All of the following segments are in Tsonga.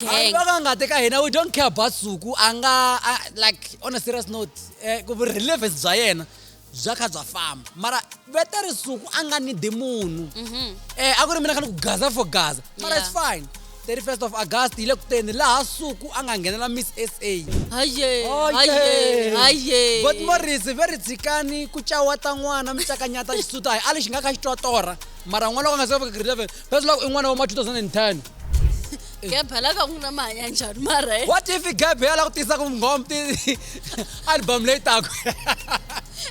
Gang. va ka ngati ka hina we don't care about suku a nga a- like on a serious note eh, ku relevance bya yena bya kha bya famba mara veta ri suku a nga nidi munhu um a ku ri mina kha ni ku gaza for gaza mara its Yeah. fine 31st of august hi le ku teni laha suku a nga nghenela miss sa haye haye haye god morris ve ri tshikani ku cawata n'wana mi cakanyata xisuta hayi ali xi nga ka xi twa torha mara n'wana loko a nga se fika grade 11 phese loko i n'wana wa ma 2010 gebhe la ka ku na mahanya njhani mara eh? what if gebhe ya la ku tisa ku nghom ti album leyi tako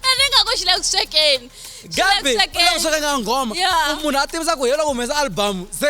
ene nga ku xi le ku swekeni gebhe u le ku swekeni nga nghoma munhu a tivisa ku hi loko humesa album se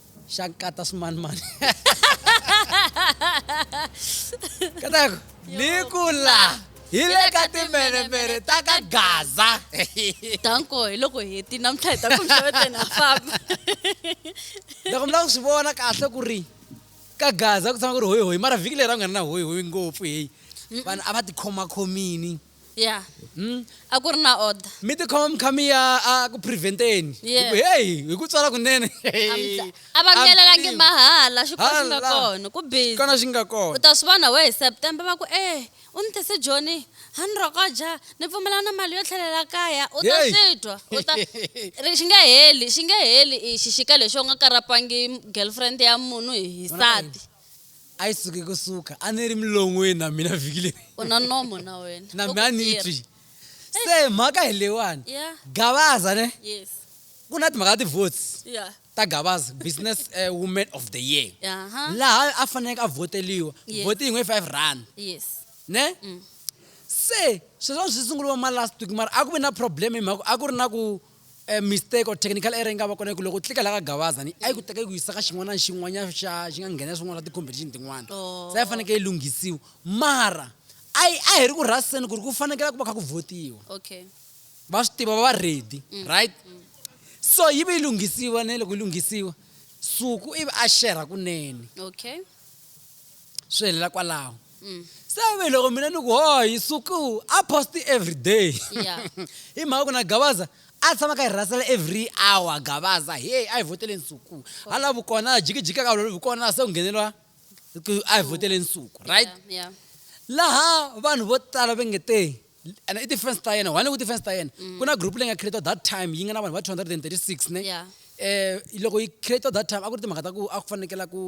Xa nkata swimanimani. Kataku, ni ku la hi le ka timbelemele ta ka Gaza. Danko, hi loko hi heti namuntlha hi ta ku mihloveteni ha famba. Loko mi lava ku swi vona kahle ku ri ka Gaza ku tshama ku ri hoyi hoyi mara vhiki leri a ku nga ri na hoyi hoyi ngopfu heyi vanhu a va tikhomakhomini. ya a ku ri na order mi tikhoma mi kha mi ya a ku preventeni hi Yeah. ku heyi hi ku tswala kunene a va mielelangi mahala xikwembu xi nga Hala. kona ku busy kona xi nga u kona ta swi vona we hi september va ku e u ni tise joni ha ni rokoja ni pfumela na mali yo tlhelela kaya u ta Hey. swi twa u ta ri xi nge heli xi nge heli i xixika lexi u nga karapangi girlfriend ya munhu hi nsati a yi suki ku suka a ni ri milon'weni na mina vhiki leri u na nomo na wena na mina a ni yi twi se mhaka hi leyiwani yeah gavaza ne yes ku na timhaka ta ti-votes yeah ta gavaza business uh, woman of the year aha laha a faneleke a vhoteliwa Yes. vhoti yin'we five rand yes ne Mm. se sweswiwani swi sunguriwa ma last week mara a ku ve na problem hi mhaka a ku ri na ku e mistake or technical error yi nga va kona ku loko u tlika la ka gavaza ni a yi ku teka yi ku yisa ka xin'wana na xin'wanyana xa xi nga nghena swin'wana swa ti-competition tin'wana oh. se a yi fanekele yi lunghisiwa mara a yi a hi ri ku rhaseni ku ri ku fanekela ku va kha ku votiwa okay va swi tiva va va ready mm. right mm. so yi ve yi lunghisiwa ne loko yi lunghisiwa suku ivi a xerha kunene okay swi helela kwalaho mm. se ve loko mina ni ku hoyi suku a post every day hi mhaka ku na gabaza a tshama ka hi rhasela every hour gabaza heyi a hi voteleni suku ha lavi kona jikijika ka lolovi kona se ku ngheneriwa a hi voteleni suku right laha vanhu vo tala va nge te and i ti-fans ta yena one ku ti-fans ta yena mm. ku na group leyi nga creator that time yi nga na vanhu va 236 ne yeah. eh loko yi creator that time a ku ri timhaka ta ku a ku fanekela ku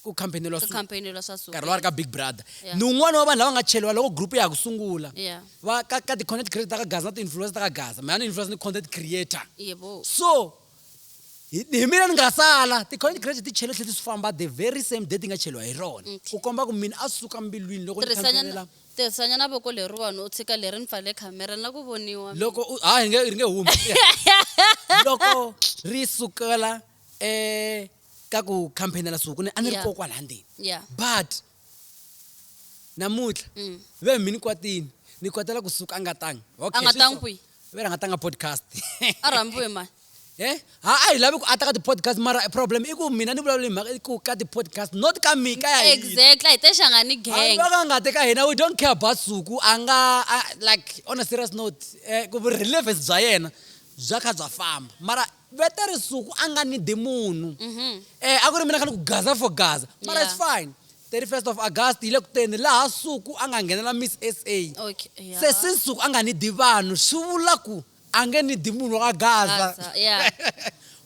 ku campaignelwa nkarhi lowa ri ka big brother yeah. ni un'wana wa vanhu lava nga cheliwa loko group ya ha ku sungula yeah. va ka, ka ti-content creator ta ka gaza na ti-influencer ta ka gaza mhana ni-influencer ni content creator yeah, so hi mina ni nga sala ti-college graduate ti chele tlhe ti swi famba the very same day ti nga cheliwa hi rona ku komba ku mina a suka mbilwini loko tirhisanya na voko leriwani u tshika leri ni pfale khamera na ku voniwa loko ha hi nge ri nge humi loko ri sukela um ka ku camphainela suku ni a ni ri kokwala ndzeni but namutlha mm. ve mi ni kwatini ni kwatela kusuka a nga tangi okay, a nga tangi kwihi ve ra nga tanga podcast a rhambiwe mani Eh? ha a hi lavi ku ata ka ti-podcast mara problem i ku mina ni vulavula hi mhaka ku ka ti-podcast not ka mika ya exactly hi texanga ni gang va ka nga te ka hina we don't care about suku a nga like on a serious note eh, ku relevance bya yena bya kha bya famba mara Vete Risuku a nga need munhu. Eh, a ku ri mina khale ku gaza for gaza. Mara it's Yeah. fine. 31st of August yi le ku teni laha Suku a nga nghenela Miss SA. Okay, yeah. Se since Suku a nga need vanhu swi vula ku a nge need munhu wa gaza. Gaza, yeah.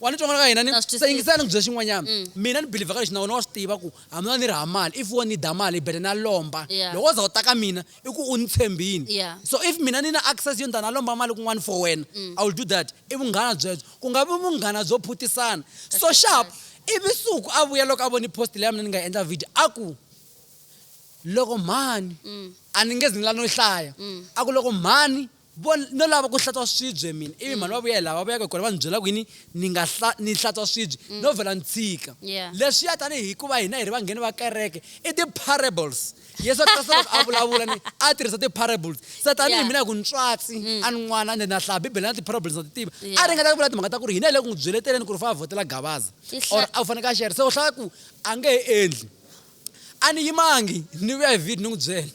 Wa ni twa n'wana ka hina ni Na swi twisisa. se yingisela ni ku byela xin'wanyana. Mina ni believe ka lexi na wena wa swi tiva ku hambi no va ni ri hava mali if wo need mali i better na lomba. Yeah. Loko wo za u ta ka mina i ku u ni tshembini yeah. so if mina ni na access yo ndana lomba mali kun'wana for wena mm. i will do that i vunghana byebyo ku nga vi vunghana byo phutisana so sharp ivi suku a vuya loko a voni post leya mina ni nga endla video a ku loko mhani mm. a ni nge zi ni la no hlaya mm. a ku loko mhani Vo, no lava ku hlantswa swibye mina. Ivi mhani va vuya hi laha va vuyaka hi kona va ndzi byela ku yini, ni nga hla, ni hlantswa swibye. No vhela ni tshika. Yeah. Leswiya tani hi ku va hina hi ri vangheni va kereke, i ti-parables. Yesu Kreste loko a vulavula ni, a tirhisa ti-parables. Se tani hi Yeah. mina hi ku ni tswatsi, a ni n'wana ende na hlaya Bibele na ti-parables na ti tiva. A Yeah. ringeta ku vula timhaka ta ku ri hina hi le ku n'wi byeleteleni ku ri u fanele a vhotela Gabaza. I hla- Or a fanekele a share. Se u hlaya ku a nge he endli. A ni yimangi, ni vuya hi vhiki ni n'wi byela.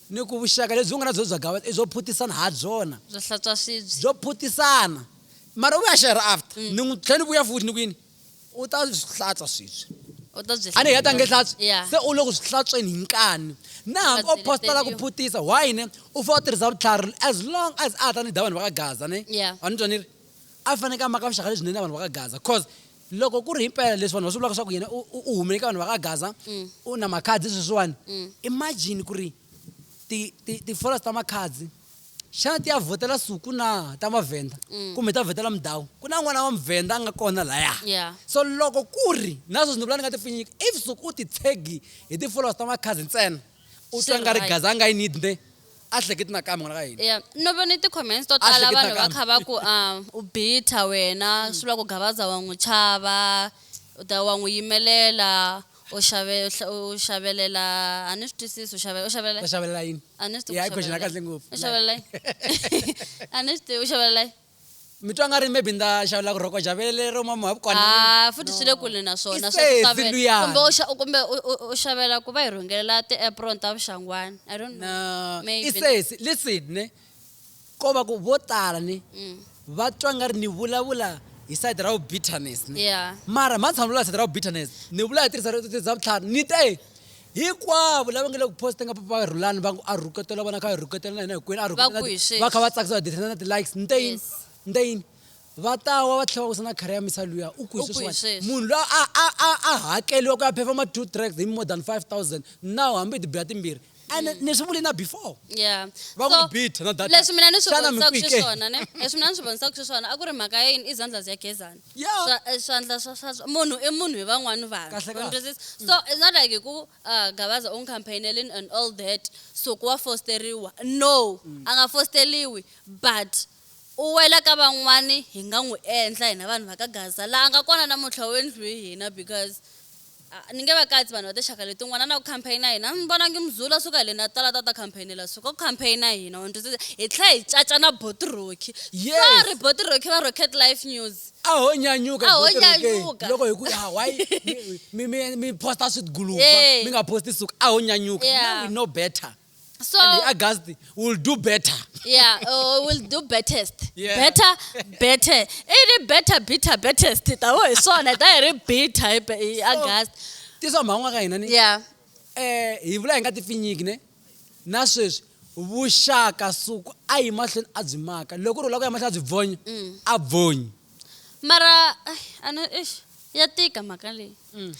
Ni ku vuxaka lebyi u nga na byona bya gava i byo phutisana ha byona. Byo hlantswa swibye. Byo phutisana. Mara u vuya xerha after. Ni n'wi tlhela ni vuya futhi ni ku yini? U ta swi hlantswa swibye. U ta byi. A ni heta a nge hlantswi? Ya. Se u le ku swi hlantsweni hi nkani. Na hambi o posta la ku phutisa, why ne? U fanele u tirhisa vutlhari as long as a ha ta ni dya vanhu va ka Gaza ne? Ya. Wa ni twa ni ri? A faneke a maka vuxaka lebyinene na vanhu va ka Gaza coz Loko ku ri hi mpela leswi vanhu va swi vulaka leswaku yena u u hume eka vanhu va ka Gaza u na makhadzi sweswiwani imagine ku ri ti ti ti followers ta makhadzi xana ti ya vhotela suku na ta mavhenda kumbe ta vhotela mudhawu ku na n'wana wa muvhenda a nga kona laya Yeah. so loko ku ri na sweswi ni vula ni nga ti pfinyiki if suku u ti tshegi hi ti followers ta makhadzi ntsena u Swi twa nga ri right. Gaza a nga yi need ne a hleketi nakambe n'wana ka hina Yeah. no vone ti-comments to A tala hleketa vanhu va kambe. kha va ku um u bitha wena swi vula ku gavaza wa n'wi chava u ta wa n'wi yimelela u xave- u hla- u xavelela a ni swi twisisi u xave- u xavelela ta xavelela yini a ni swi tivi Ya, ku i question ya xavelela kahle yini. ngopfu. U xavelela yini? a ni swi tivi u xavelela yini? mi twa nga ri maybe ni ta xavula ku rhoko javele lero mama wa vukona Ah, futhi swi le kule na swona It's swa ku a xave- luyani. kumbe u xa- kumbe u- u- u xavela ku va hi rhungelela ti-apron ta vuxangwana i don't know No, Maybe. i sesi listen ne ko va ku vo tala ni Mm. va twa nga ri ni vulavula hi side ra vu bitterness ne yeah mara mhani tshama ni vulavula hi side ra vu bitterness ni vula hi tirhisa rito tirhisa vutlhari ni te hinkwavo lava nge le ku posta nga papa va rhulani va ku a rhuketela vona kha rhuketela na hina hinkwenu a Va ku hi sweswi. va kha va tsakisa va dirhisa na ti-likes ni te yini Yes. ni te yini va ta wa va tlhela va wisa na khara ya misa luya u ku hi U ku hi sweswiwani sweswi. munhu loyi a a a a hakeliwa ku ya phefoma two tracks hi more than five thousand now hambi hi tibiya timbirhi ene ni swi vuli na before yeah Va ku beat na data. leswi mina ni swi Xana mi vonisaka ku yi ke? xiswona ne leswi mina ni swi vonisaka xiswona a ku ri mhaka ya yini i zandlas ya gezani yeah Swa- eh, swandla swa swa swa- munhu i munhu hi van'wani vanhu Kahle, You kahle. understand? so it's not like hi ku uh, gavaza u n'wi campaignelini and all that so ku wa fosteriwa no a nga fosteriwi but u wela ka van'wani hi nga n'wi endla hina vanhu va ka gaza laha a nga kona namuntlha u endliwe hi hina because A ni nge va katsi vanhu va tinxaka letin'wana na ku campaign-a hina. A ni vonangi Muzulu a suka hi le Natal a ta ta campaign-ela Suka ku campaign-a hina, wa ni twisisa? Hi tlhela hi caca na Boti Rocky. Yes. Sorry Boti Rocky va Rocket Life News. A ho nyanyuka A ho Boti Rocky. nyanyuka. Loko hi ku ah why mi mi mi mi posta swidguluva Yeah. mi nga posti suka a ho nyanyuka. Yeah. Now we know better. so and august will do better yeah uh, will do bettest yeah. better better iri better bitter bettest tawo hi swona ta hi ri bitter hi august tisa mhan'wa ka hina ni yeah eh hi vula hi nga ti finyiki ne na sweswi vuxaka suku a yi mahlweni a byi maka loko ri ula ku ya mahlweni a byi bvonya mm. a bvonyi mara ana ya tika mhaka leyi mm.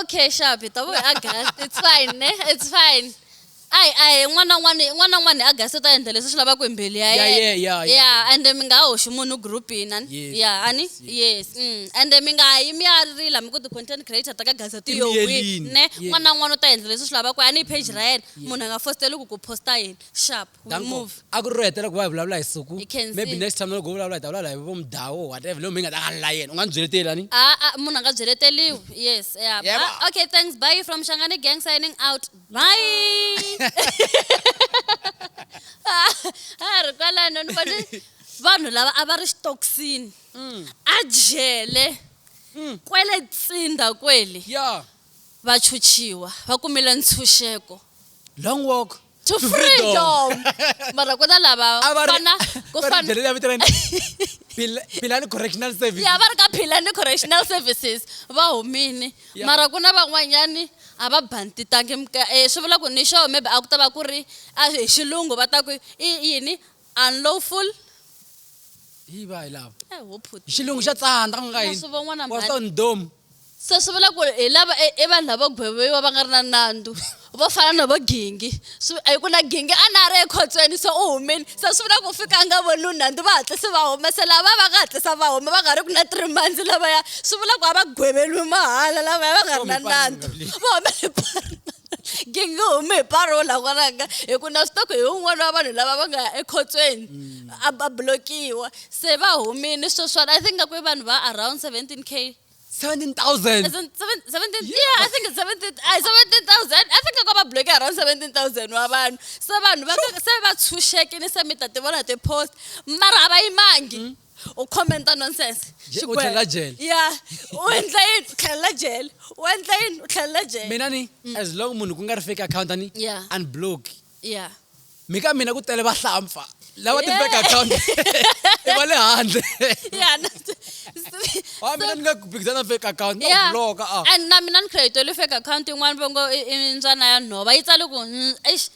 okay sharp hi ta vuya august it's fine ne it's fine ayi ayi n'wana n'wana n'wana n'wana hi august u ta endla leswi swi lavaka hi mbilu ya Yeah, yena yeah, yeah, yeah. yeah ende mi nga hoxi munhu groupini ani Yes, ya ani yes, yes mm. ende mi nga yi mi ya rila mi ku ti-content creator ta ka gazeti Ti yo wi miyerini, ne yes. n'wana n'wana u ta endla leswi swi lavaka ani hi page ra yena munhu a nga fositeli ku ku posta yini sharp We Danko, move. a ku ri ro hetela ku va hi vulavula hi suku Hi khensile. maybe next time loko u vulavula hi ta vulavula hi vo mudhawu or whatever leyo mi nga ta ka la yena u nga ni byeleteli ani a a munhu a nga byeleteliwi yes yeah. Yebo. Ah, okay thanks bye from shangani gang signing out bye Ah, a ri kwalano ni vone vanhu lava a va ri xitokisini a jele kwele tsinda kweli ya vachuchiwa va kumile ntshunxeko long walk to freedom mara ku na lava a va ri- fana ku va ri fana byele la vito ra yena. Phila- philani correctional service ya va ri ka philani correctional services va humini Ya. mara ku na van'wanyani a va bantitangi mka- eh, swi vula ku ni xo maybe a ku ta va ku ri a hi xilungu va ta ku i yini Unlawful? Hi va hi lava. Eh, ho phuti. Xilungu xa tsandza ku nga yini? Swi von'wa na What's mhani. on dome? Se swi vula ku hi lava i i vanhu lavo gweviwa va nga ri na nandzu. Vo fana na vo Gingi. Swi a hi ku na Gingi a na ha ri ekhotsweni se u humile. Se swi vula ku u fika a nga voniwi nandzu va hatlise va huma. Se lava va nga hatlisa va huma va nga ri ku na three months lavaya swi vula ku a va gweveriwi mahala lavaya va nga ri na nandzu. Va hume hi partner. nge nge humi hi paro la n'wananga hi ku na swi tiva ku hi un'wana wa vanhu lava va nga ya ekhotsweni a ba blokiwa se va humile sweswana i think ngaku i vanhu va around 17 k 17000 As in seven- 17 yeah, I think it's 17 ay, 17,000 I think ko va bloke around 17,000 wa vanhu se vanhu va se va tshunxekile se mi ta ti vona ti-post mara a va yimangi u commenta nonsense u tlhelela jele ya u endla yini u tlhelela jele u endla yini u tlhelela jele mina ni mm. as long munhu ku nga ri fake account ani yeah. unblock yeah mi ka mina ku tele vahlampfa lava ti fake account i va le handle wa mina ni nga phikizana fake account no block ah and na mina ni create le fake account yin'wana vongo i ndzwana ya nhova yi tsale ku mm, eish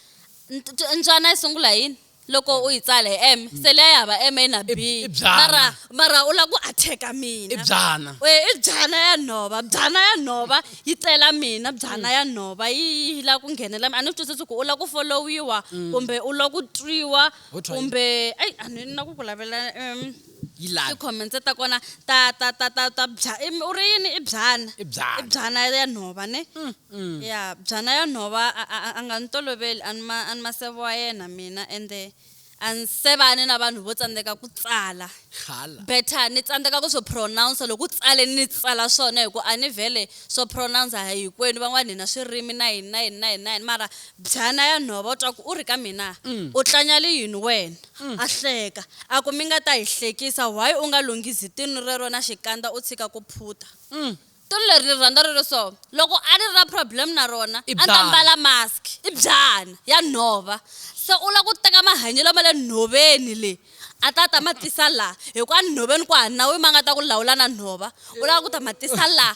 ndzwana yi sungula yini loko u yi tsala hi m mm. se leya ya hava m na b mara mara u lava ku attack-a mina byana e i byana ya nhova byana ya nhova yi tsela mina byana mm. ya nhova yi yi lava ku nghenela mina a ni twisisi ku u lava ku folowiwa mm. kumbe u lava ku twiwa kumbe eyi a ni na ku ku lavela um Yilani. ti-comments ta kona ta ta ta ta ta bya i mi- u ri yini i byana I byana. i byana ya nhova ne ya byana ya nhova a- a a- a nga ni toloveli a ni ma a ni ma seve wa yena mina ende a ni sevani na vanhu vo tsandzeka ku tsala Hala. better ni tsandzeka ku swi pronounce loko u tsale ni tsala swona hi ku a ni vhele swo pronounce a hinkwenu van'wana hina swirimi na yini na yini na yini na yini mara byana ya nhova u twa ku u ri ka mina u tlanyali yini wena a hleka, a ku, Mi nga ta hi hlekisa, why u nga lunghizi tinu rero na xikandza u tshika ku phuta? Tinu leri ni ri rhandza ri ri so, loko a ni ri na problem na rona, a ni ta mbala mask. I byana, ya nhova. Se u lava ku teka mahanyelo ma le nhoveni le, a ta ta ma tisa laha, hi ku enhoveni ku hava nawu ma nga ta ku lawula na nhova, u lava ku ta ma tisa laha.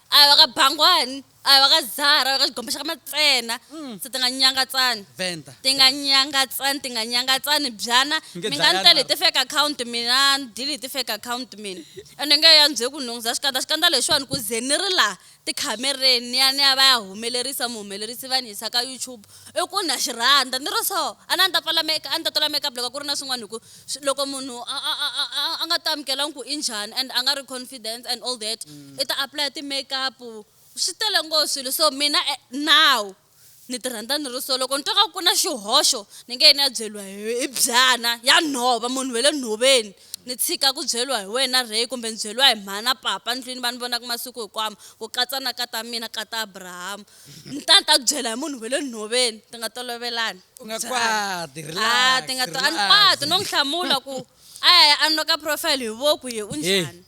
a hi wa ka bangwani a hi wa ka zara a hi wa ka xigombe xa ka matsena mm. se ti nga nyangatsani venda ti nga nyangatsani ti nga nyangatsani byana mi nga ni tele hi ti-fake account mina ni dile hi ti-fake account mina ende nge ya ndzhe ku nhungu za xikandza xikandza lexiwani ku ze ni ri laha tikhamereni ni ya ni ya va ya humelerisa muhumelerisi va ni yisa ka youtube i ku na xi rhandza ni ri so a ni a ni ta pfala make a ni ta tola makeup loko ku ri na swin'wana hi ku loko munhu a, a, a, a, a, a nga ti amukelanga ku i njhani and a nga ri confidence and all that i ta apply ti-makeup swi tele ngo swilo so mina eh, now ni ti rhandza ni ri so loko ni twa nga ku na xihoxo ni nge ni ya byeriwa hi hi byana ya nhova munhu we le nhoveni ni tshika ku byeriwa hi wena rey kumbe ni byeriwa hi mhana papa ndlwini va ni vonaka masiku hikwamo ku katsa na ka ta mina ka ta abrahamu ni ta ni ta ku byela hi munhu ve le nhoveni ti nga tolovelani u nga kwati a ti nga to a ni kwati no n'wi hlamula ku a ya a noka profile hi voku ye u njhani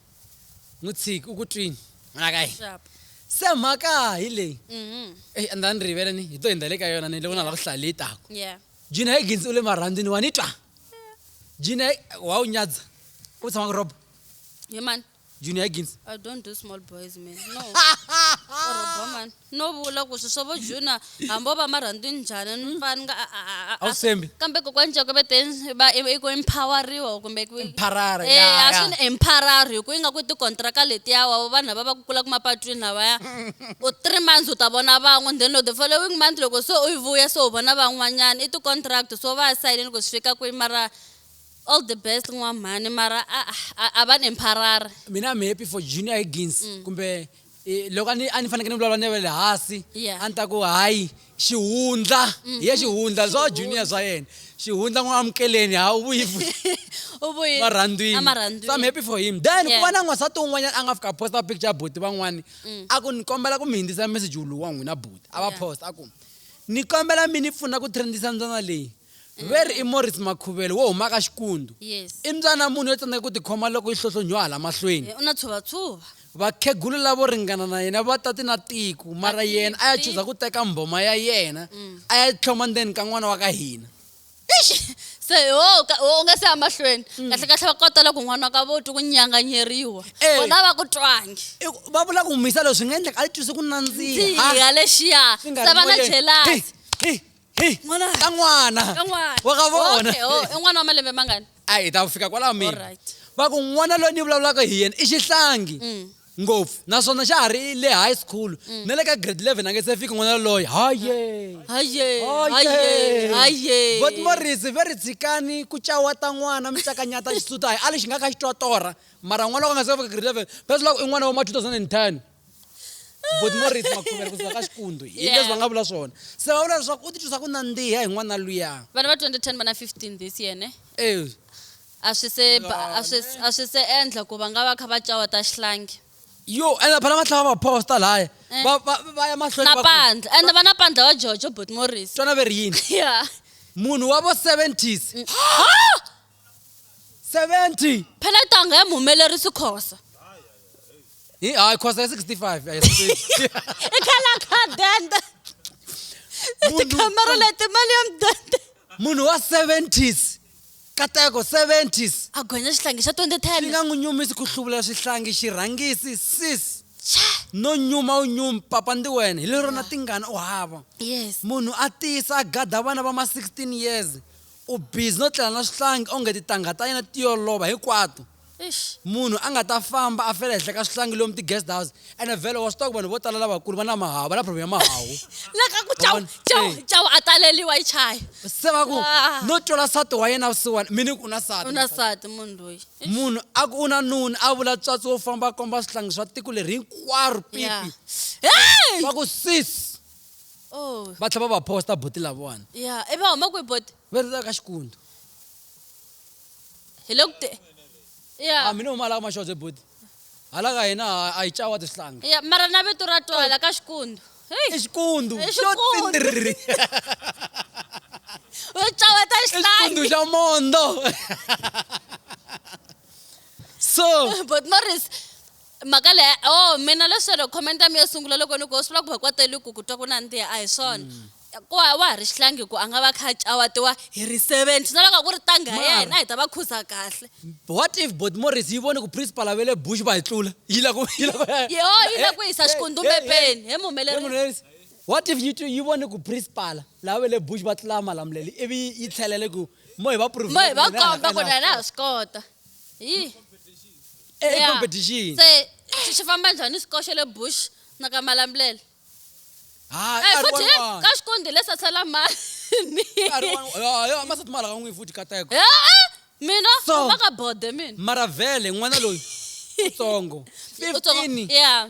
n'wi tshiki u ku twini n'wana ka hina se mhaka hi leyi mhm. eyi a ni ta ni rivele ni hi to hindza le ka yona ni loko na lava ku hlaya leyi tako jina hi ginsi u le marhandzini wa ni twa jina wa wu nyadza u tshama ku roba hi mani junior gins i don't do small boys man no oroba man no vula ku swi swa vo junior hambi o va marhandwi njhani ni pfa ni nga a- a- a- a- a swi- Awusembi. kambe kokwani joko ve te va i i ku empoweriwa kumbe ku Empower-a, Eh, ya, a ya. swi ni empower hi ku yi nga ku tikontraka letiya wa vanhu lava va ku kulaka mapatwini lavaya u three months u ta vona van'we then the following month loko se u yi vuya se u vona van'wanyana i ti-contract so va sayinile ku swi fika kwihi mara All the best nwa mhani mara a, a, a va nempharari. mina I'm happy for Junior Higgins mm. kumbe eh, loko a ni a ni faneke ni vulavula ni va le hansi Yeah. a ni ta ku hayi xihundla mm-hmm. hi ya xihundla swa junior swa yena xihundla n'wi amukeleni ha u vuyi futhi U vuyi- marhandzwini emarhandzwini. so I'm happy for him then ku Yeah. va na n'wansati un'wanyana a nga fika a posta picture ya buti van'wani mm. a ku ni kombela ku mi hindzisa message wuluwa n'wina buti a va Yeah. posta a ku ni kombela mi ni pfuna ku trendisa ndzana leyi Veri i Morris Makhuvelo wo huma ka Xikundu. Yes. I mbyana mune yo tsandzeka ku tikhoma loko yi hlohlonhiwa hala mahlweni. Eh, u na tshuvatsuva. Vakhegulu lavo ringana na yena va ta ti na tiko, mara yena a ya chuza ku teka mbhoma ya yena a ya tlhoma ndzeni ka n'wana wa ka hina. Eish! Se ho ka- ho u nga se ya mahlweni. Kahle kahle va kota loko n'wana wa ka vo twi ku nyanganyeriwa. Eh. Vona va ku twangi. I ku- Va vula ku n'wi yisa loko swi nga endleka a yi twise ku nandziha. Ndziha lexiya. Swi nga Se ri va na moyeni. jealous. Hi, hi, Hey, N'wana. ka n'wana Ka n'wana. wa ka vona Okay, oh, i n'wana wa malembe mangani a hi ta fika kwalaho mina Alright. va ku n'wana loyi ni vulavulaka hi yena i xihlangi Mm. ngopfu naswona xa ha ri le high school na le ka grade 11 a nge se fiki n'wana loyi haye haye haye haye vot morisi ve ri tshikani ku cawata n'wana mi tsakanyata xisuta hayi a lexi nga ka xi twatora mara n'wana loko a nga se fika grade 11 va swi lava ku i n'wana wa ma 2010 but more rate makhuvela kusuka ka xikundu hi Yeah. leswi va nga vula swona se va vula leswaku u titwisa ku nandziha hi n'wana luya vana va 2010 va na 15 this year ne Eh, a swi se ba- Yeah, a swi- a swi se endla ku va nga va kha va cawa ta xihlangi yo ende phela va tlhava va posta laya Eh. va va- va ya mahlweni na va ku, pandla ende va na pandla wa jojo bot morris twana ve ri yini ya munhu wa vo 70s 70 phela tanga ya muhumelerisi khosa hi hayi khosa ya 65 a hi 60 i khala khadende Munhu- tikhamera leti mali ya mudende munhu wa 70s kateko 70s a gonya xihlangi xa 2010 swi nga n'wi nyumisi ku hluvula swihlangi xirhangisi sis no nyuma u nyumi papa ndi wena hi lerona tingana u hava yes munhu a tiyisa a gada vana va ma 16 years U busy no tlela na swihlangi onge titangha ta yena ti yo lova hinkwato. Eish. Munhu a nga ta famba a fela ehenhla ka swihlangi lomu ti-guest house ene vhele wa swi tiva ku vanhu vo tala lavakulu va na mahawu, va na problem ya mahawu. La ka ku Chawu, Vavona? Chawu, Eh. Chawu a taleliwa yi chaya. Se va ku, Ah. no twela nsati wa yena vusiwana, mi ni ku u na nsati. U na nsati munhu loyi. Eish. Munhu a ku u na nuna, a vula tswatsi wo famba a komba swihlangi swa tiko leri hinkwaro, Yeah. pipi. Hey! Va ku, sis, oh va tlhela va va posta buti lavawani ya i va huma kwihi boti va ri ka xikundu hi le ku te ya a mina huma laha ka maxoze buti hala ka hina a- a yi cawa tisihlangi ya mara na vito ra twala ka xikundu heyi i xikundu I xo xikundu. tindiriri u caweta i xikundu xihlangi xa mondo so boti morris mhaka leyi oh mina leswelo comment ya mi yo sungula loko ni ku swi vula ku vakwateli ku ku twa ku nandziha a hi swona mm. ku wa ha ri xihlangi ku a nga va kha cawatiwa hi ri seventy na loko ku ri tanga ya hina hi ta va khuza kahle what if bot morris yi voni ku principal a ve le bush va hi tlula yi la ku yi la ku yo yi la ku yisa xikundumepeni he muhumelerisi what if yi yi voni ku principal lava ve le bush va tlula malamuleli ivi yi tlhelele ku mo hi va mo hi va komba ku na na ha swi kota yi e e Yeah. competition se xi- xi famba njhani xikoxo le bush na ka malambulela hayi Eh, nkarhi futhi he, wun'wana. ka xikondi le sasela mani Nkarhi wun'wana. Ya, ya, masati ma lava n'wi futhi kateko Eh, eh, mina So- famba ka bode mina mara vele n'wana loyi utsongo Utsongo. 15 yeah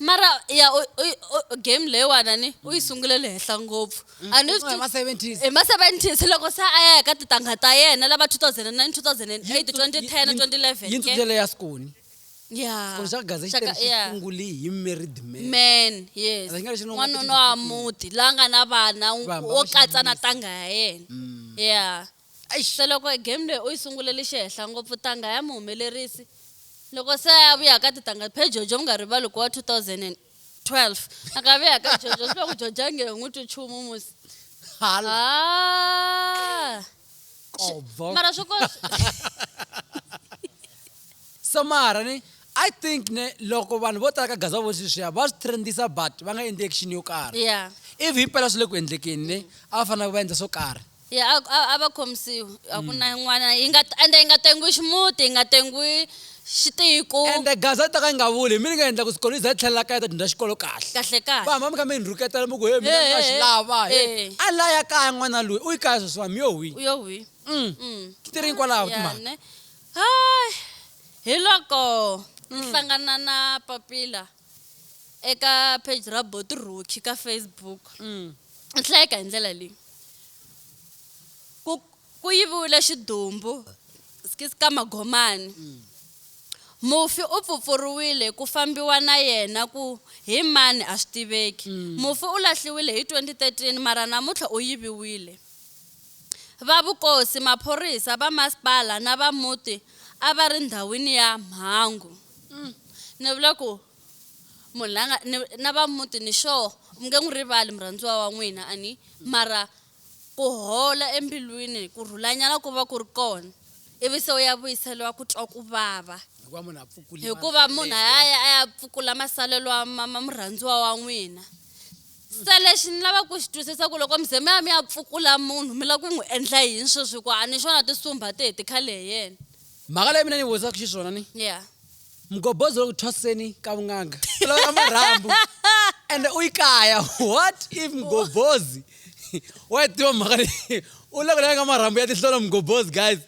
mara ya u- u- u- game leyiwana ni u yi sungule le henhla ngopfu a ni swi hi ma 70s hi ma-seventies loko se a ya hi ka titangha ta yena lava 2009 2008 2010 2011 yintsu ke? byele ya sikoni Yeah. sikoni xa gaze xi Shaka- tele xi yeah. sungule hi married man man yes Rhanga lexi ni nga n'wanuna wa muti la nga na vana Vamba wo va katsa na xinuna. tanga ya yena Mm. yeah Eish! Se loko e game leyi u yi sungulele xihehla ngopfu tanga ya muhumelerisi loko se a vuya ka titanga phe Jojo mi nga rivali ku wa 2012 a ka vuya ka Jojo swi vula ku Jojo a nge he n'wi twi nchumu musi Hala. Ah! Kobvo. mara swi ko So mara ni I think ne loko vanhu vo tala ka Gaza vo sweswiya va swi trendisa but va nga endli action yo karhi. yeah If himpela swi le ku endlekeni ne a va fanele va endla swo karhi. ya a a, a va khomisiwi a ku na yin'wana yi nga ende yi nga tengiwi ximuti yi nga tengiwi xitiko ende gaza yi ta ka yi nga vuli hi mi ni nga endla ku swikolo yi za yi tlhelela kaya ta dyondza xikolo kahle kahle kahle va hamba mi kha mi yi rhuketela mi ku he mina ni nga xi lava he Eh. a la ya kaya n'wana loyi u yi kaya sweswiwani mi yo hwi u yo hwi Mm. Mm. ti ri kwalaho Ya, timhaka ne? Hai, hi loko ni hlangana na papila eka page ra boti rocky ka facebook ni hlayeka hi ndlela leyi ku ku yiviwile xidumbu skis ka magomani mufi u pfupfuriwile ku fambiwa na yena ku hi mani a swi tiveki mufi u lahliwile hi 2013 mara namuntlha u yiviwile Va vukosi, maphorisa, va masipala na va muti a va ri ndhawini ya mhangu. Umm ni vula ku munhu la nga ni na va muti ni sure mi nge n'wi rivali murhandziwa wa n'wina a ni mara ku hola embilwini ku rhulanyana ku va ku ri kona ivi se u ya vuyiseriwa ku twa ku vava hikuva munhu a pfukule hikuva munhu a ya a ya pfukula masalelo ma ma murhandziwa wa n'wina se lexi ni lava ku xi twisisa ku loko mize mi ya mi ya pfukula munhu mi lava ku n'wi endla yini sweswi hikuva a ni xona tisumba ti heti khale hi yena mhaka leyi mina ni vutisaka xiswona ni ya mgobozi loko thwaseni ka vun'anga u lava marhambu ende u yi kaya what if mgobozi wa yi tiva mhaka leyi u loko lava nga marhambu ya tinhlolo mgobozi guys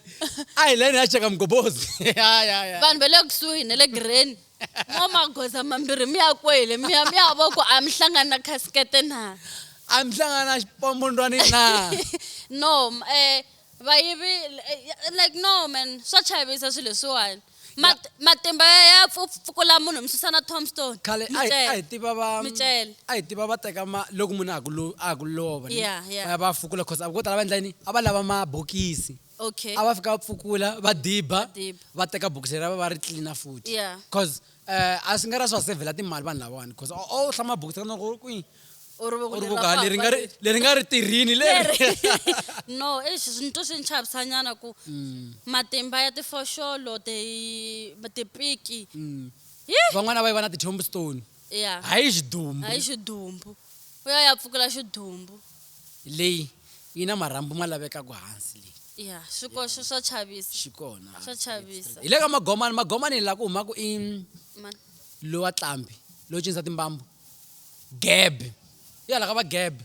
a hi leni ha cheka mgobozi vanhu va le kusuhi na le gireni N'wamagoza mambirhi mi ya kwele mi ya mi ya vo ku a mi hlangani na khasikete na a mi hlangana na xipombondwani na no um vayivi eh, like no man swa chavisa swilo leswiwani Mat- matimba ya ya pfu- pfukula munhu mi susa na tombstone khale mi a hi- a hi cela. tiva va Mi cela. a hi tiva va teka ma loko munhu a ha ku lo- a ha ku lova ni? Yeah, yeah. va ya va ya fukula cause a vo tala va endla yini a va lava mabokisi okay a va fika va pfukula va diba diba. va teka bokisi ra va va ri tlilina futhi Yeah. cause um a swi nga ra swi va sevhela timali vanhu lavawani cause o o hlama bokisi ra na ku kwi u ri u ri voka leri nga ri- leri nga ri tirhini leri no eish ni twa swi ni chavisanyana ku Mm. matimba ya tifoxolo ti- tipiki Hi! van'wana a va yi va na ti-tombstone ya hayi xidumbu hayi xidumbu u ya ya pfukela xidumbu leyi yi na marhambu ma lavekaku hansi leyi ya swi ko swi swa chavisa xi kona swa chavisa hi le ka magomani magomani laha ku humaka i Ma- lowa tlambi lowo cinisa timbambu gebe ya laha ka va gebe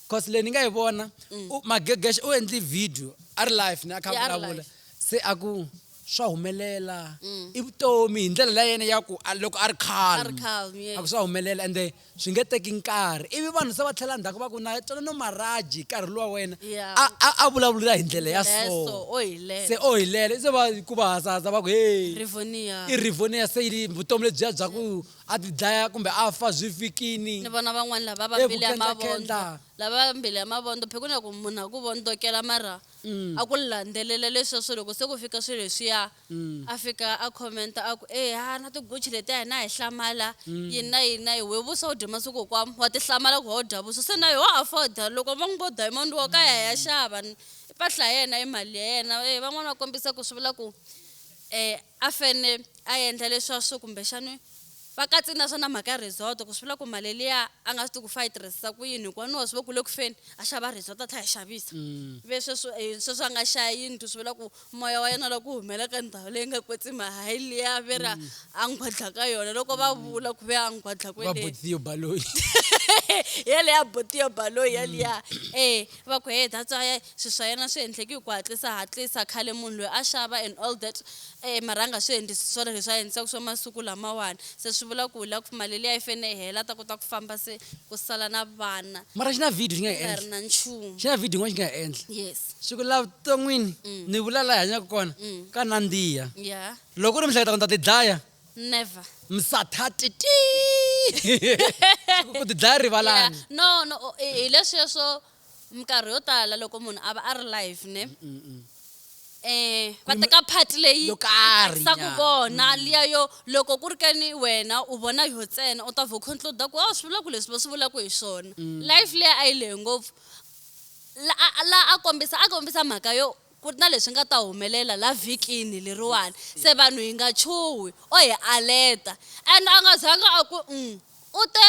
cause leyi ni nga yi vona u- magegesha u endli video a ri live ni a kha a Yeah, a ri vulavula live. se a ku swa humelela i vutomi hi ndlela la yena ya ku a- loko a ri A ri calm, yeah. a ku swa humelela ende swi nge teki nkarhi ivi vanhu se va tlhela ndzhaku va ku na tsona no maraji nkarhi luwa wena Yeah. a- a a vulavula hi ndlela ya Ndlela ya so, so o hilela. se o hilele se va ku va hazahaza va ku hey rivonia i rivonia se yi vutomi lebyiya bya ku A ti dlaya kumbe a fa zwi fikini. Ni vona van'wana lava va mbilu ya mavondlo, lava va mbilu ya mavondlo phikweni ya ku munhu a ku vondzokela mara a ku landzelela leswiya swo loko se ku fika swilo leswiya a fika a comment a ku eya na ti Gucci leti a hina hi hlamala yini na yini na yini wehe vuswa u dye masiku hinkwawo wa ti hlamala ku why u dya vuswa se na yo wa afford loko va n'wi vo diamond wa ka ya hi ya xava i mpahla ya yena i mali ya yena van'wana va kombisa ku swi vula ku a fane a endla leswa swo kumbexani va katsini na swona mhaka ya resort ku swi vula ku mali liya a nga swi ti ku fa yi tirhisisa ku yini hikuva no swi ve ku le ku feni a xava resort a tlha yi xavisa mm. ve sweswo eh, sweswo a nga xaya yindlu swi vula ku moya wa yena la ku humela ka ndhawu leyi nga kwetsima hayi liya ve ra mm. a nghwadla ka yona loko va mm. vula ku ve a nghwadla kweletiyo baloyi yeleya botiyo baloyi yaliya e va ku he that's why swi swa yena swi endleki hi ku hatlisa hatlisa khale munhu loyi a xava and all that E marhanga swi endlisi swona leswi a endlisaku swo masiku lamawani se swi vula ku la ku maleli ya yi fene yi hela a ta kota ku famba se ku sala na vana Mara xi na video xi nga ku hi nga ri endla. na nchumu Xi na video yin'wana xi nga hi endla. yes Swi ku la vuton'wini Mm. ni vula la hi hanyaka kona Mm. ka nandziha. ya Loko u ri mihleketa ku ni ta ti dlaya never msathati tii. Swi ku ku ti dlaya Yeah. rivalani. no no o- hi hi leswiya swo minkarhi yo tala loko munhu a va a ri live ne um va teka part leyi Yo karhi, saku nya. vona liya yo loko ku ri ke ni wena u vona yo ntsena u ta vho conclude ku a swi vula ku leswi va swi vulaka hi swona life leyi a yi lehe ngopfu la a a- la a kombisa a kombisa mhaka yo ku ri na leswi nga ta humelela la vhikini leriwani se vanhu hi nga chuhi o hi aleta and a nga zanga a ku um u te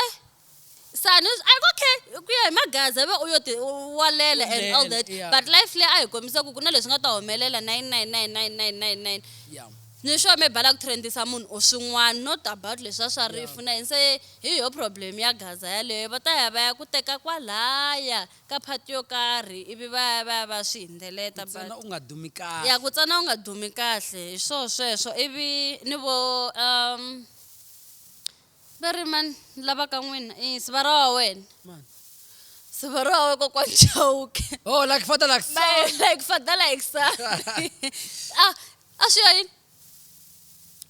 sani a ku okay ku ya hi magaza ve u yo ti walela and all that yeah. but life leyi a hi kombisa ku ku na leswi nga ta humelela 999999 yeah. ni sure me bala ku trendisa munhu u swin'wana not about leswi a swa rifu na yini se hi yo problem ya gaza yaleyo va ta ya va ya ku teka kwalaya ka phati yo karhi ivi va ya va ya va swi hindzeleta u nga dumi kahle ya ku tsana u nga dumi kahle hi swo sweswo ivi ni vo um Va ri, Mani lava ka n'wina? I nsiva ra wa wena. Mani? Nsiva ra wa wena Kokwana Chauke. Oh, like father, like son. Ba, like father, like son. a, a swi ya yini?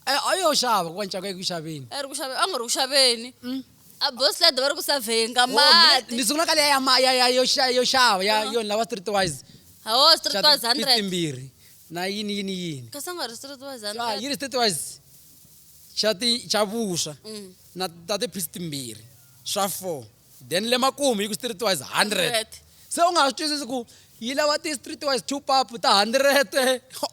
A, a yo xava Kokwana Chauke, a yi ku xaveni. A ri ku xaveni, a nga ri ku xaveni. Mm. A boss lady va ri ku savenga oh, mati. Ni sungula ka leya ya ya yo xava ya yona lava streetwise. Hawo streetwise 100. Timbirhi na yini yini yini. Kasi a nga ri streetwise 100. Yi ri streetwise. xa ti xa vuswa mm. na ta ti piece timbirhi swa four then le makumu yi ku street wise hundred se u nga ha swi twisisi ku yi lava ti street wise two pap ta hundred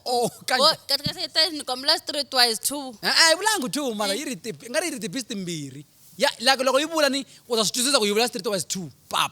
oh, kanikombela street wise two a eh, eh, yi vulangi two mara yi ri i nga ri yi ri ti piece timbirhi ya like loko yi vula ni u ta swi twisisa ku yi vula street wise two pap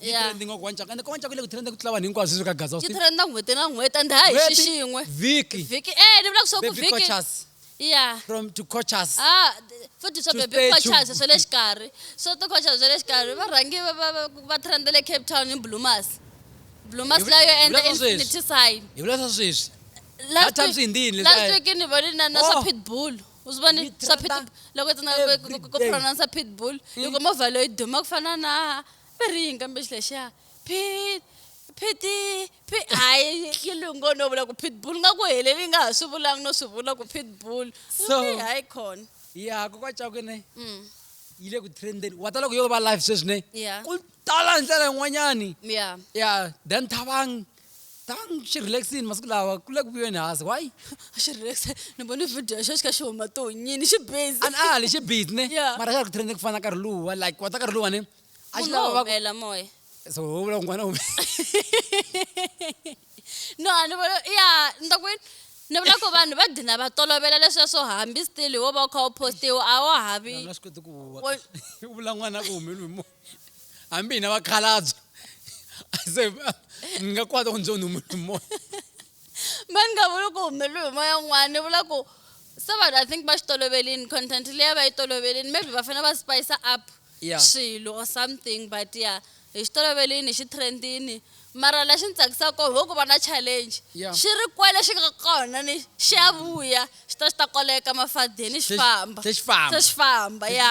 yi Yeah. trending wa ku wancaku ende ka wancaku yi le ku trending ku tlula vanhu hinkwavo sweswi ka gaza yi trenda n'hweti na n'hweti and hayi xi xin'we vhiki vhiki eh ni vula ku swa ku baby vhiki coaches ya from to coaches ah d- futhi swa To baby stay coaches tuned. swa le xikarhi swa ti coaches swa le xikarhi va rhangi va- va- va- va trenda le cape town hi blumas blumas Hi vu- layo hi endla vula swa sweswi. infinity sign hi vula swa sweswi last That time's week in Hindi, last leswi- week ni vone na na swa Oh. pitbull uzibone Yi swa trenda pitbull loko tsena every ku day. pronounce pitbull yi kuma vhalo yi duma ku fana na va ri yini kambe xi lexiya pit phiti phi hayi yi lungo no vula ku pitbull nga ku heleli yi nga ha swi vulangi no swi vula ku pitbull So- Okay, hayi khona ya ku ka cakwe ne Mm. yi le ku trendeni wa ta loko yo va live sweswi ne Yeah. ku tala hi ndlela yin'wanyani ya ya dan thabang Ta ni xi relax-ini masiku lawa ku le ku vuyeni hansi why a xi relax ni vone video xa xi kha xi huma to nyini xi busy a ni ali xi busy ne Yeah. mara xa ha ri ku trend ku fana na nkarhi luwa like wa ta nkarhi luwa ne a xi munhu lava wo va ku humela moya so ho vula ku n'wana u no a ni vona ya ni ta ku yini ni vula ku vanhu va gina va tolovela leswiya swo hambi still wo va u kha u postiwa a wa ha vi Vanhu va swi koti ku huwa Wa- u vula n'wana ku humeliwe hi moya hambi hina vakhalabye se ni nga kwata ku ndzi u humele moya ma ni nga vuli ku humele hi moya un'wana ni vula ku se vanhu i think va xi tolovelini content leyi va yi tolovelini maybe va fanele va spice up yeah. swilo or something but ya yeah, hi xi tolovelini hi xi trendini mara la xi ni tsakisaka kona ho ku va na challenge yeah. xi ri kwele xi nga kona ni xi ya vuya xi ta xi ta koleka mafadeni xi famba se xi famba ya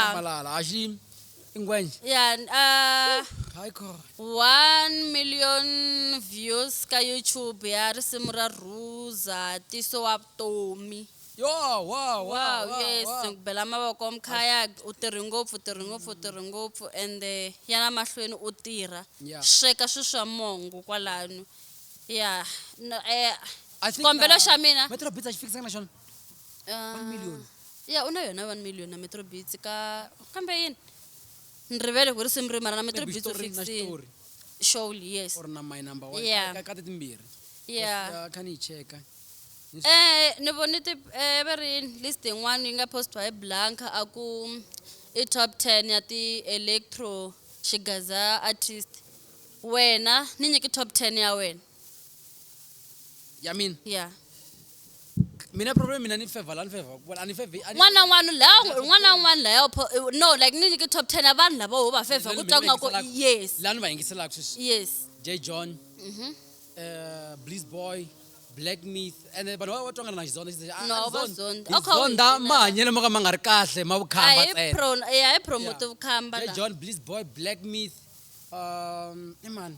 ingwenya ya uh, hayi khona 1 million views ka youtube ya risimu ra rhuza tiso wa vutomi yo wa wa wow wa yes wa. ku bela mavoko mkhaya u tirhi ngopfu u tirhi ngopfu u tirhi ngopfu ende ya na mahlweni u tirha Yeah. sweka swi swa mongo kwalano ya no, eh, I think xikombelo na- xa mina Metro Beats a xi fikisanga na xona One million. ya u na yona 1 million na metro bits ka kambe yini ni rivele ku ri simu ri mara na metro Maybe bits u xitori na fixini xitori surely yes or na my number one Yeah. ka- ka ti timbirhi yeah Because, uh, kha ni yi cheka Ni swi- Eh, ni vone ti eh, va ri list yin'wana yi nga postiwa hi blanca a ku i top 10 ya ti-electro xigaza artist wena ni nyiki top 10 ya wena ya mina ya mina problem mina ni favor la ni favor ku ani favor ani n'wana na n'wana la n'wana na n'wana la ya pho- eh, no like ni nyike top 10 ya vanhu lava ho va favor ku twa ku nga ko yes la ni va yingiselaka sweswi yes J John Mhm. eh Bliss Boy Black Myth and then vanhu va va twangana na Xizonda Xizonda, ah, No, ah, va Xizonda. zonda. Hi Okay, zonda wena. mahanyelo mo ka ma nga ri kahle ma vukhamba hayi ntsena pro eh, hayi promote vukhamba J la John Bliss Boy Black Myth um i mani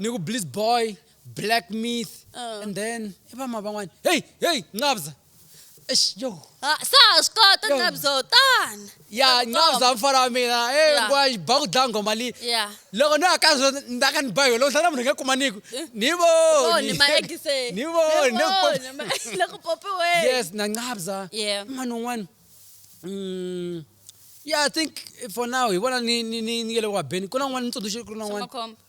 ni ku bliss boy black myth uh. and then i vama van'wana hey hey nqabza eish yo ah, sa swi kota nqabzo tana ya nqabza mfana wa mina e ngwa ba ku dlaya nghoma leyi loko ni aka swo ni ta ka ni ba yona loko hlana munhu nge kumaniku eh. ni voni ni voni yes na nqabza mani un'wana mm, yeah i think for now hi vona ni ni ni ni nge le ku wabeni ku na un'wana ni tsundzuxi ku na un'wana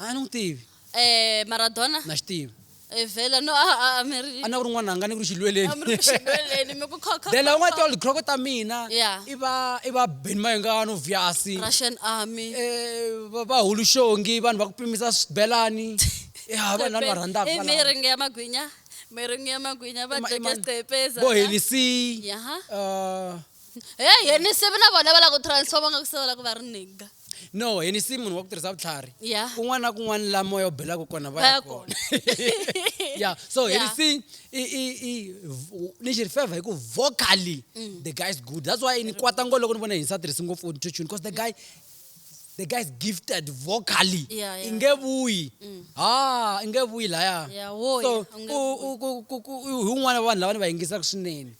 A ni n'wi tivi. Eh, Maradona? Na xi tivi. Eh, vhela no a a mi ri. A ni ku ri n'wananga ni ku ri xilweleni. A mi ri ku xilweleni mi ku kho kho. Vhela u nga toli kroko ta mina. Yeah. I va i va Ben Mayengano Vyasi. Russian army. Eh, va va Hulushongi vanhu va ku pimisa swibelani. Ya vanhu lava ni va rhandzaka I valava. miringi ya magwinya. Miringi ya magwinya va Ema- dya ema- gqepeza. Bo Hennessy. Yaha. Uh, he henisi na vona va lava ku transforma nga ku se va lava ku va ri nigga no hi ni si munhu wa ku tirhisa vutlhari Yeah. kun'wana na kun'wana la moya u belaka kona va ya Vaya kona yeah so hi Yeah. ni si i i i v- ni xi ri favor hi ku vocally Mm. the guy is good that's why ni kwata ngo loko ni vona hi ni sa tirhisi ngopfu auto tune because the guy the guy is gifted vocally Yeah, yeah. i nge vuyi ah i nge vuyi laya Yeah, wo so ya, u nge u- ku- ku- ku- u- hi un'wana wa vanhu lava ni va yingisaka swinene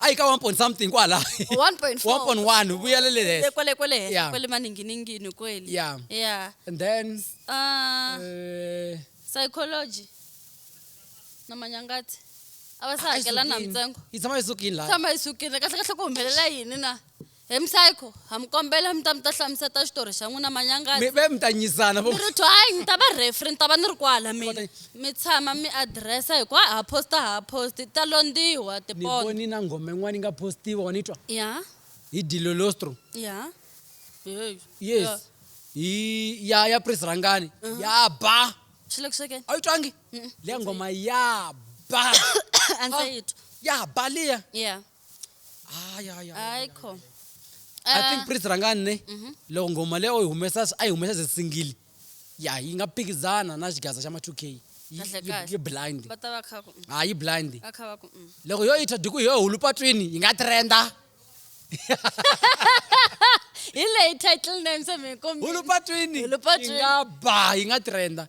a yi ka 1 point something kwala 1.4 1.1 vuyele le Le henhla kwale kwale henhla Yeah. kwale maninginingini kweli Yeah. yeah and then uh, eh, psychology na manyangati a va se a yi hakela na sukile. mintsengo yi tshama yi sukile la tshama yi sukile kahle kahle ku humelela yini na He Msayko, ha mi kombela mi ta mi ta hlamuseta xitori xa n'wina manyangani. Mi ve mi ta nyizana vo. Mi ri twayi ni ta va referee ni ta va ni ri kwala mina. Mi tshama mi adiresa hi ku ha ha posta ha ha posti ti ta londiwa Ni tipondo. voni na nghoma yin'wana yi nga postiwa wa ni twa Ya hi Dilolostro ya heyi yes ya. hi ya ya Prince Rhangani ya ba Xi le ku swekeni a wu yi twangi liya nghoma ya ba a ndzi se yi twa ya ba liya ya hayi hayi hayi kho i think prince rhangani ne mhm. loko nghoma leyi u yi humesa a yi humesa ze singili ya yi nga phikizana na xigaza xa ma 2 k yi blind ha yi blind mm. loko yo yi thwa diku hi yo hulu patwini yi nga trenda hi leyi title name se mi kombisa hulu patwini yi nga ba yi nga trenda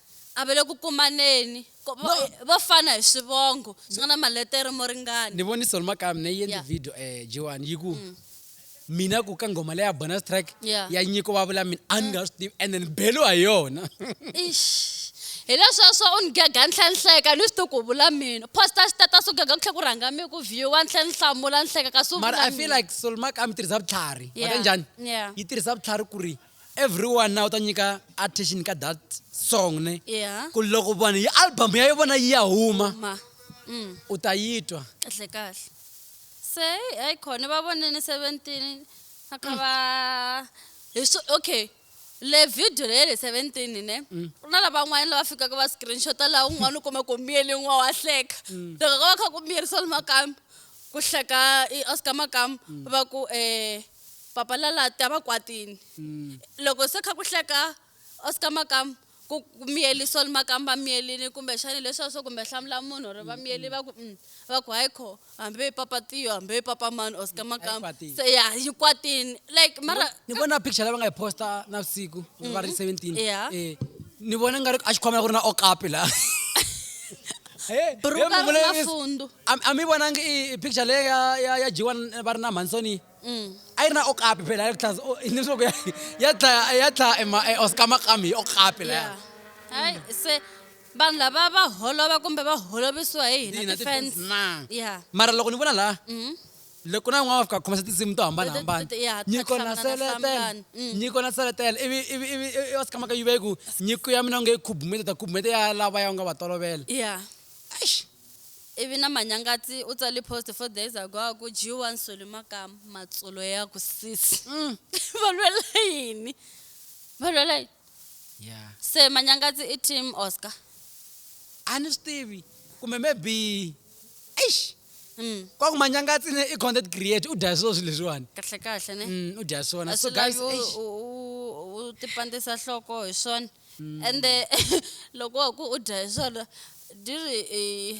A va le ku kumaneni. Ko- Vo No. eh, vo fana hi swivongo swi nga na maletere mo ni ringana. vone solo makaya mina yi endle Yeah. Mm. video um jiwani yi ku mina ku ka nghoma leya bonus track Yeah. Mm. ya nyiko va vula mina a ni nga swi tivi and then belo ha yona Eish. hi lesweswo u ni gega ni tlhe ni hleka ni swi ti ku vula mina posta status u gega ku tlhe ku rhanga mi ku viewa ni tlhe ni hlamula ni hleka kasi u mara vula i feel mina. like solo makaya mi tirhisa vutlhari Yeah. wata njhani Yeah. yi tirhisa vutlhari ku ri everyone now ta nyika attention ka that song ne yeah. ku loko vanhu yi album ya vona yi ya huma mm. u ta yi twa kahle kahle se hayi khona va vonene seventeen a kha va hi swo okay le video leyi le seventeen ne ku mm. na lavan'wana lava fikaka va screenshota laha un'wana u kuma ku miyele n'wa wa hleka mm. loko ka va kha ku miyerisa limakamba ku hleka i oscar makamba mm. va ku um Papa lala ta va kwatini. Loko se kha ku hleka Oscar Makamu ku miyeli Sol Makamu va miyelini kumbe xani leswa swo kumbe hlamula munhu or va miyeli va ku mm, va ku hayi kho hambi papa Tiyo hambi papa mani Oscar mm, Makamu kwatini. se ya yi kwatini like mara ni vona picture lava nga yi posta na vusiku va ri 17 Yeah. eh ni vona nga ri a xikhwama ku ri na okapi la Eh, Ru eh, ka ri muvulayi- na fundu. a a mi vonangi i- i picture leyi ya- ya ya jiwa n- va ri na mhansoni Mm. a yi ri na okapi phela ya tlhas- o- ni swa ku ya- ya dlaya ya dlaya ema- e oscar makami hi okapi laya hayi se vanhu lava va holova kumbe va holovisiwa hi hina Hina ti-fans. ti-fans na. ya mara loko ni vona laha Mhm. loko na n'wana wa fika khomisa tinsimu to hambanahambana nyiko na seletela nyiko na seletela ivi ivi ivi i wa sikama ka yive ku nyiko ya mina u nge yi khubumete ta khubumete ya lava ya u nga va tolovela yeah eish ivi na manyangati u tsali post four days ago a ku dyiwa nsoli makama matsulo ya ku sisi mm. va lwela yini va lwela yini yeah se manyangati i team oscar a ni swi tivi kumbe maybe eish Mm. kwaku manyangatsi ne i content create u dya swo swilo leswiwani kahle kahle ne Mm, u dya swona a so swi guys lavi u- eish. u- u- u tipandisa nhloko hi swona Mm. ende loko wa ku u dya hi swona di ri eh,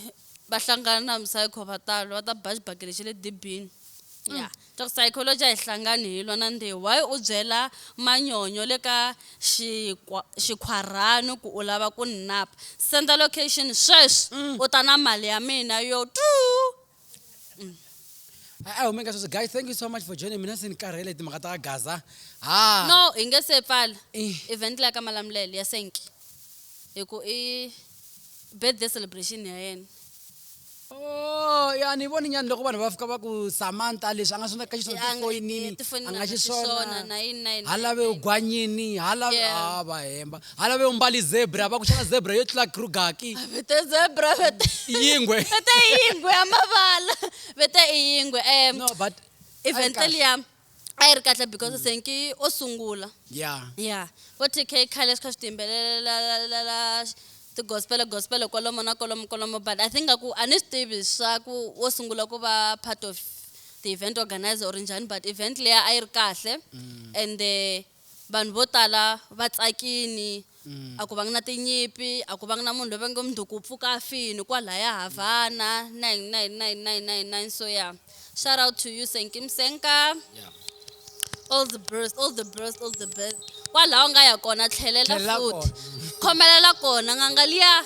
va hlangana na msayikho va talo va ta ba xibakele xa le dibini ya Mm. Dr Psychology a hi hlangani hi lwa na ndewu why u byela manyonyo le ka xikhwarhani ku u lava ku ni napa senda location sweswi u ta na mali ya mina yo tuu a hume ka sweswo guys thank you so much for joining mina se ni karhele timhaka ta gaza ha no hi nge se pfala event la ka malamulele ya senki hi ku i birthday celebration ya yena Oh, ya ni voni nyani loko vanhu va fika va ku samantha leswi a nga swi endla ka xiswona Ya, tifoyinini eh, tifoyinini a nga a nga xiswona, xiswona na yini na yini ha na lave yini. u gwanyini ha lave Yeah. ha va hemba ha lave u mbali zebra va ku xana zebra yo tlula krugaki vete zebra vete yingwe vete yingwe ya mavala vete i yingwe um no but event Ayi, kahle. liya a yi ri kahle because mm. senki o sungula ya ya vo tk khale swi kha swi tiyimbelelela tigospele gospele kwalomo na kwalomo kwalomo but i think ngaku a ni swi tivi swa ku wo sungula ku va part of the event organizer or njhani but event leya a yi ri kahle mm. and Vanhu vo tala va tsakini, a ku vangi na tinyimpi, a ku vangi na munhu loyi va ngo mundzuku u pfuka a fini kwalaya Havana 999999 so ya shout out to you Senki Msenka all the best all the best all the best kwalaho nga ya kona tlhelela Tlhelela futhi kona. khomelela kona n'anga liya